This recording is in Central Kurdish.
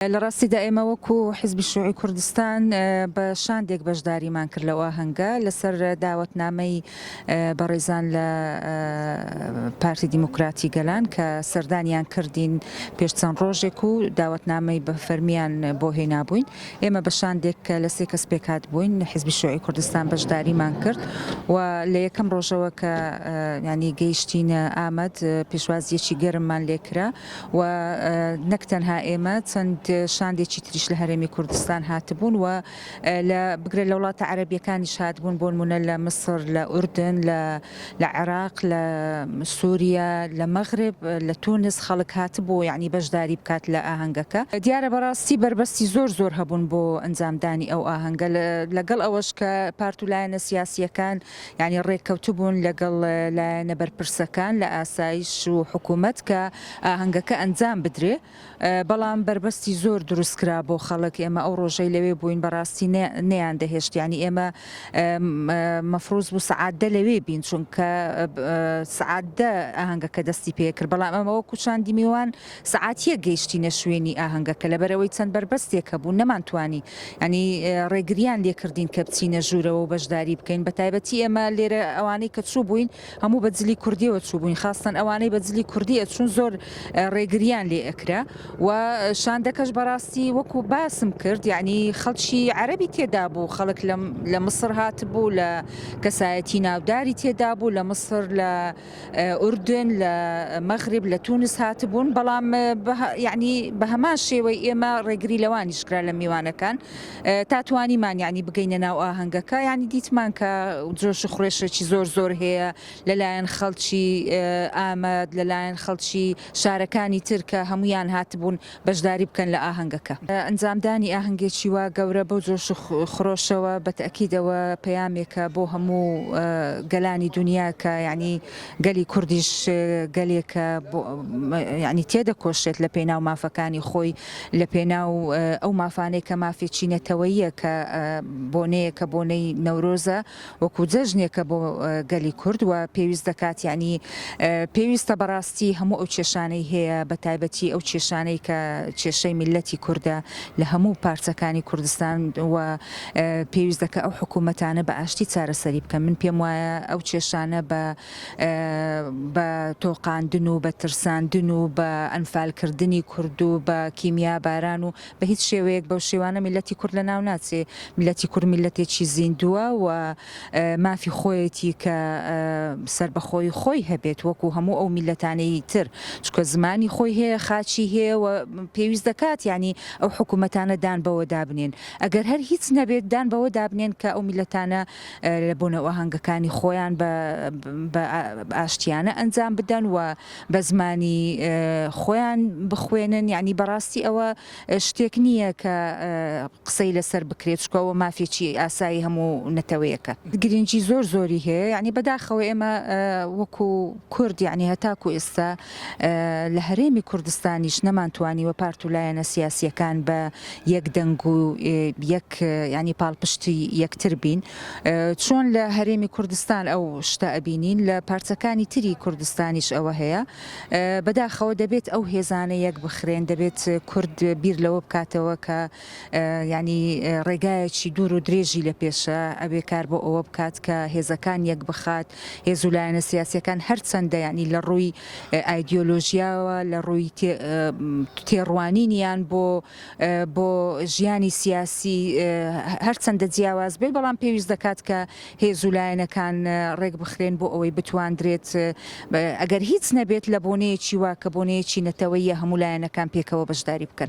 لە ڕاستیدا ئێمە وەکو حیزبی شوعی کوردستان بە شاندێک بەشداریمان کرد لەو ئاهەنگە لەسەر داوەتنامەی بەڕێزان لە پارتی دیموکراتی گەلان کە سەردانیان کردین پێش چەند ڕۆژێک و داوەتنامەی بە فەرمیان بۆ هێنابووین ئێمە بە شاندێک کە لە سێ کەس پێکات بووین حیزبی شوعی کوردستان بەشداریمان کرد و لە یەکەم ڕۆژەوە کە ینی گەیشتینە ئامەد پێشوازیەکی گەرممان لێکرا و نەک تەنها ئێمە چەند شاندێکی تریش لە هەرێمی کوردستان هاتبوون و لە بگرە لە وڵاتە عەرەبیەکانیش هاتبوون بۆن مونە لە مسر لە ئوردن لە لە عێراق لە سووریا لە مەغرب لە تونس خەڵک هاتبوو یعنی بەشداری بکات لە ئاهەنگەکە دیارە بەڕاستی بەربەستی زۆر زۆر هەبوون بۆ ئەنجامدانی ئەو ئاهەنگە لەگەڵ ئەوەش کە پارت و لایەنە سیاسیەکان یانی ڕێککەوتبوون لەگەڵ لایەنە بەرپرسەکان لە ئاسایش و حکوومەت کە ئاهەنگەکە ئەنجام بدرێ، بەڵام بەربەستی زۆر دروست کرا بۆ خەڵک، ئێمە ئەو ڕۆژەی لەوێ بووین بەڕاستی نەیاندەهێشت، یانی ئێمە مەفروز بوو سەعات دە لەوێ بین، چونکە سەعات دە ئاهەنگەکە دەستی پێ کرد، بەڵام ئەمە وەکوو چاندی میوان، سەعات یەک گەیشتینە شوێنی ئاهەنگەکە لەبەرئەوەی چەند بەربەستێک هەبوو نەمانتوانی یانی ڕێگریان لێکردین کە بچینە ژوورەوە و بەشداری بکەین بە تایبەتی ئێمە لێرە ئەوانەی کە چوو بووین هەموو بە جلی کوردیەوە چوو بووین خاستەن ئەوانەی بە جلی کوردی ئەچوون زۆر ڕێگریان لێ ئەکرا و شاندەکەش بەڕاستی وەکو باسم کرد یعنی خەڵکی عەربی تێدا بوو خەڵک لە مصر هاتبوو لە کەسایەتی ناوداری تێدا بوو لە مصر لە ئوردن لە مەغرب لە تونس هاتبوون بەڵام یعنی بە هەمان شێوەی ئێمە ڕێگری لەوانیش کرا لە میوانەکان تا توانیمان یعنی بگەینە ناو ئاهەنگەکە یعنی دیتمان کە جۆش و خڕێشێکی زۆر زۆر هەیە لەلایەن خەڵکی ئامەد لەلایەن خەڵکی شارەکانی ترکە هەمویان هاتبوون بەشداری بکەن لە ئاهەنگەکە. ئەنجامدانی ئاهەنگێکی وا گەورە بەو جۆش و خرۆشەوە بە تەئکید ئەوە پەیامێکە بۆ هەموو گەلانی دونیا کە یانی گەلی کوردیش گەلێکە یانی تێدەکۆشێت لە پێناو مافەکانی خۆی لە پێناو ئەو مافانەی کە مافێکی نەتەوەییە کە بۆنەیەکە بۆنەی نەورۆزە. وەکو جەژنێکە بۆ گەلی کورد و پێویست دەکات یانی پێویستە بەڕاستی هەموو ئەو کێشانەی هەیە بە تایبەتی ئەو کێشانەی کە کێشەی میللەتی کوردە لە هەموو پارچەکانی کوردستان و پێویست دەکە ئەو حکوومەتانە بە ئاشتی چارەسەری بکەن من پێم وایە ئەو کێشانە بە بە تۆقاندن و بە ترساندن و بە ئەنفالکردنی کورد و بە کیمیا باران و بە هیچ شێوەیەک بەو شێوانە میللەتی کورد لە ناو ناچێ، میللەتی کورد میللەتێکی زیندووە و مافی خۆیەتی کە سەربەخۆیی خۆی هەبێت وەکوو هەموو ئەو میللەتانەی تر چونکە زمانی خۆی هەیە خاکی هەیە و پێویست دەکات یانی ئەو حکوومەتانە دان بەوە دابنێن ئەگەر هەر هیچ نەبێت دان بەوە دابنێن کە ئەو میللەتانە لە بۆنە ئاهەنگەکانی خۆیان بە ئاشتیانە ئەنجام بدەن و بەزمانی خۆیان بخوێنن یانی بەڕاستی ئەوە شتێک نییە کە قسەی لەسەر بکرێت چکە ئەوە مافێکی ئاسایی هەموو نەتەوەیەکە گرنگی زۆر زۆری هەیە یعنی بەداخەوە ئێمە وەکو کورد یعنی هەتاکو ئێستا لە هەرێمی کوردستانیش نەمانتوانی وە پارت و لایەنە سیاسیەکان بە یەک دەنگ و یەک ینی پاڵپشتی یەکتر بین چۆن لە هەرێمی کوردستان ئەو شتە ئەبینین لە پارچەکانی تری کوردستانیش ئەوە هەیە بەداخەوە دەبێت ئەو هێزانە یەک بخرێن دەبێت کورد بیر لەوە بکاتەوە کە ینی ڕێگایەکی دوور و درێژی لە پێشە ئەبێ کار بۆ ئەوە بکات کە هێزەکان یەک بخات هێز و لایەنە سیاسەکان هەرچەندە ینی لە ڕووی ئایدۆلۆژیاوە لە ڕووی تێڕوانینیان بۆ بۆ ژیانی سیاسی هەرچەندە جیاواز بێت بەڵام پێویست دەکات کە هێز و لایەنەکان ڕێک بخرێن بۆ ئەوەی بتواندرێت ئەگەر هیچ نەبێت لە بۆنەیەکی وا کە بۆنەیەکی نەتەوەیە هەموو لایەنەکان پێکەوە بەشداری بکەن.